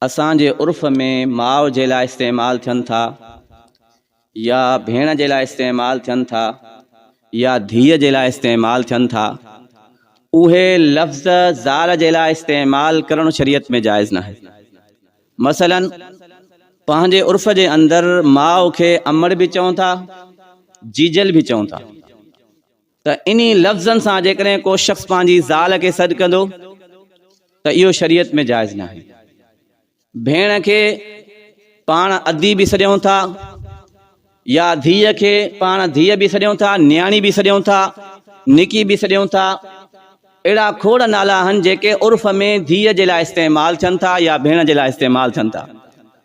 اسان جي عرف ۾ ماء جي لاء استعمال ٿين ٿا يا ڀيڻ جي لاء استعمال ٿين ٿا يا ڌيء جي لاء استعمال ٿين ٿا اهي لفظ زال جي لاء استعمال ڪرڻ شريعت ۾ جائز ناهي مثلا پنهنجي عرف جي اندر ماء کي امڙ به چون ٿا جيجل به چون ٿا ته انهي لفظن سان جيڪڏهن ڪو شخص پنهنجي زال کي سڏ ڪندو ته اهو شريعت ۾ جائز ناهي. ڀيڻ کي پاڻ ادي به سڏيون ٿا يا ڌيء کي پاڻ ڌيء به سڏيون ٿا، نياڻي به سڏيون ٿا، نڪي به سڏيون ٿا. اهڙا کوڙ نالا آهن جيڪي عرف ۾ ڌيء جي لاء استعمال ٿين ٿا يا ڀيڻ جي لاء استعمال ٿين ٿا.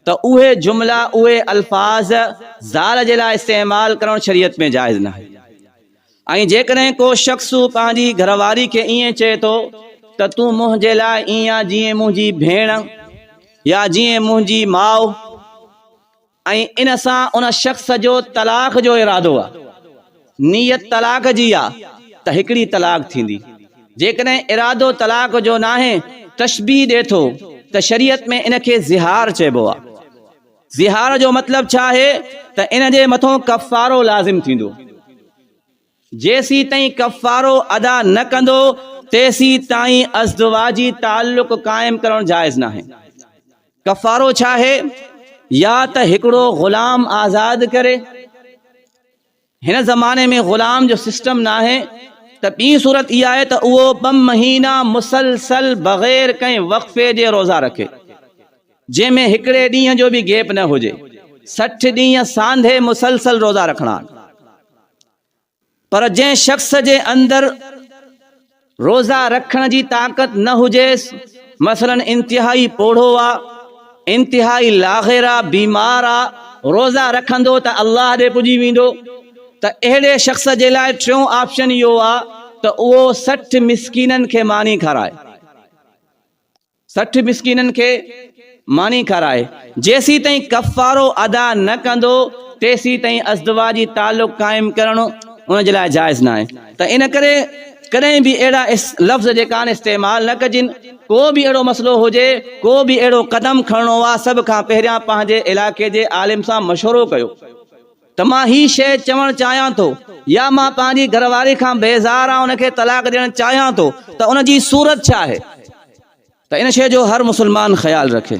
ته اهي جملا، اهي الفاظ زال جي لاء استعمال ڪرڻ شريعت ۾ جائز ناهي ۽ جيڪڏهن ڪو شخص پنهنجي گهر واري کي ائين چئي ٿو ته تون منهنجي لاء ائين آ جيئن منهنجي ڀيڻ يا جيئن منهنجي ماء ۽ ان سان ان شخص جو طلاق جو ارادو آ. نيت طلاق جي آ ته هڪڙي طلاق ٿيندي جيڪڏهن ارادو طلاق جو ناهي تشبيهه ڏي ٿو ته شريعت ۾ ان کي ظهار چئبو آ ظهار جو مطلب ڇا آهي ته ان جي مٿون ڪفارو لازم ٿيندو جيسيتائين ڪفارو ادا نه ڪندو تيسيتائين ازدواجي تعلق قائم ڪرڻ جائز ناهي ڪفارو ڇا آهي يا ته هڪڙو غلام آزاد ڪري. هن زماني ۾ غلام جو سسٽم ناهي ته ٻي صورت اها آهي ته اهو ٻه مهينا مسلسل بغير ڪنهن وقفي جي روزا رکي جنهن ۾ هڪڙي ڏينهن جو به گيپ نه هجي سٺ ڏينهن سانڍي مسلسل روزا رکڻا آهن پر جنهن شخص جي اندر روزا رکڻ جي طاقت نه هجيس، مثلاً انتهائي پوڙهو آ، انتهائي لاغر آ، بيمار آ، روزا رکندو ته الله ڏي پڄي ويندو ته اهڙي شخص جي لاء ٽيون آپشن اهو آ ته اهو سٺ مسڪينن کي ماني کارائي. سٺ مسڪينن کي ماني کارائي، جيسين تائين ڪفارو ادا نه ڪندو تيسين تائين ازدواجي تعلق قائم ڪرڻ ان جي لاء جائز ناهي ته ان ڪري ڪڏهن به اهڙا لفظ جيڪا آهن استعمال نه ڪجن، ڪو به اهڙو مسئلو هجي، ڪو به اهڙو قدم کڻڻو آ سڀ کان پهريان پنهنجي علائقي جي عالم سان مشورو ڪيو. ته مان هي شيء چوڻ چاهيان ٿو يا مان پنهنجي گهر واري کان بيزار آهيان ان کي طلاق ڏيڻ چاهيان ٿو ته ان جي صورت ڇا آهي ته ان شيء جو هر مسلمان خيال رکي.